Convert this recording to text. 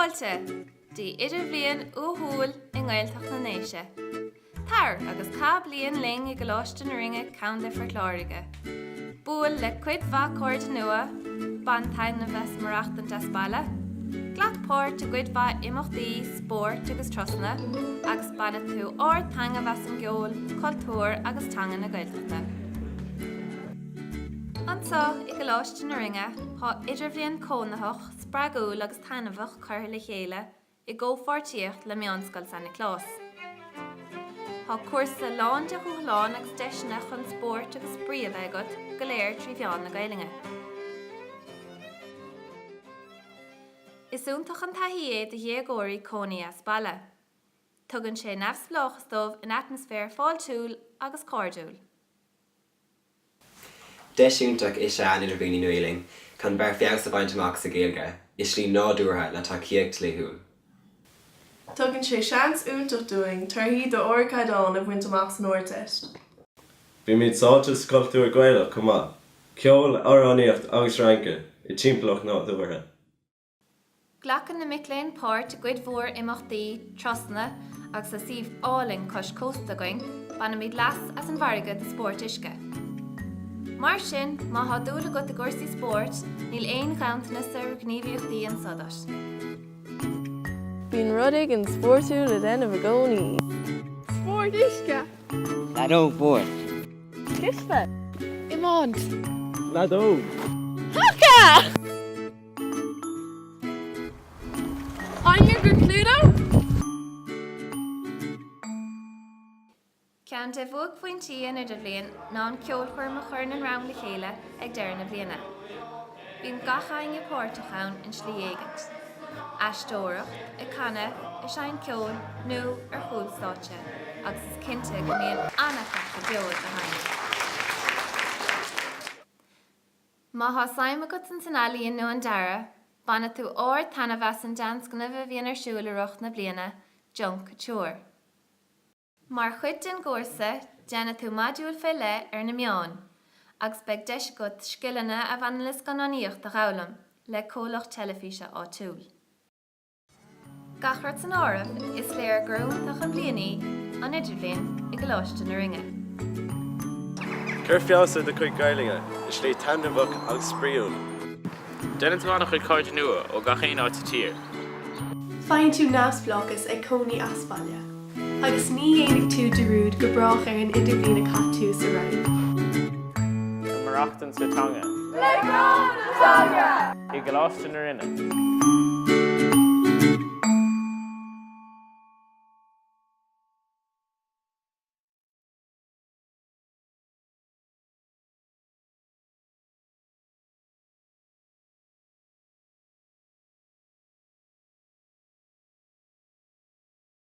Fáilte dtí Idirbhliain uathúil i nGaeltacht na nDéise. Tar agus caith bliain linn i gColáiste na Rinne, Co. Phort Láirge. Buail le cuid mhaith cairde nua, bain taitneamh as marachtaint as baile, glac páirt i gcuid mhaith imeachtaí spóirt agus turasanna agus bainfidh tú ard-taitneamh as ceol, cultúr agus teanga na Gaeltachta. Anso i gColáiste na Rinne thá Idirbhliain cónaitheach spreagúil agus taitneamhach curtha le chéile i gcomhpháirtíocht le Meánscoil San Nioclás. Thá cúrsa lán de dhúshláin agus deiseanna chun spóirt agus spraoi a bheith agat go léir trí mheán na Gaelainne. Is iontach an taithí é do dhéagóirí cónaí as baile. Tugann sé neamhspleáchas dóibh in atmaisféar fáiltiúil agus cairdiúil. Deis iontach is ea an Idirbhliain nGaelainn chun barr feabhais a bhaint amach sa Ghaeilge i slí nádúrtha le tacaíocht laethúil. Tugann sé seans iontach dúinn torthaí d'ardchaighdeán a bhaint amach san Ardteist. Bímid sáite sa chultúr Gaelach chomh maith, ceol, amhránaíocht agus rince, i dtimpeallacht nádúrtha. Glacann na mic léinn páirt i gcuid mhór imeachtaí turasanna agus sa suíomh álainn cois cósta againn bainimid leas as an bhfarraige do spóirt uisce. Mar sin, má thá dúil agat i gcúrsaí spóirt, níl aon ghanntanas ar ghníomhaíochtaí anso duit. Bíonn rud éigin spóirtiúil le déanamh i gcónaí! Spórt uisce! Leadóg bhoird! Cispheil! Iomáint! Leadóg! Haca! Áine Gur Cluain-Ó. Ceann de bhuaicphointí na hIdirbhliana ná an ceolchoirm a chuireann an rang le chéile ag deireadh na bliana. Bíonn gach éinne páirteach ann in slí éigint, aisteoireacht, ag canadh, ag seinnt ceoil nó ar chúl stáitse agus is cinnte go mbíonn an-chraic go deo ag gach éinne. Má thá suim agat ins an ealaíon nó an dearadh, bainfidh tú ard-taitneamh as an dtionscnamh a bhíonn ar siúl i rith na bliana, Junk Kouture. Mar chuid den gcúrsa, déanfaidh tú modúl fé leith ar na meáin, agus beidh deis agat scileanna a bhaineann le scannánaíocht a dh'fhoghlaim le comhlucht teilifíse áitiúil. Gach rud san áireamh, is léir gur iontach an bhliain í an Idirbhliain i gColáiste na Rinne. Cuireann tú feabhas ar do chuid Gaelainne i slí taitneamhach agus spraíúil. Déanann tú an-chuid cairde nua ó gach aon áit sa tír. Faigheann tú neamhspleáchas ag cónaí as baile. Agus ní dhéanfaidh tú dearúd go brách ar an idirbhliain a chaith tú sa Rinn. Ag maireachtaint sa teanga. Le greann na teanga. I gColáiste na Rinne.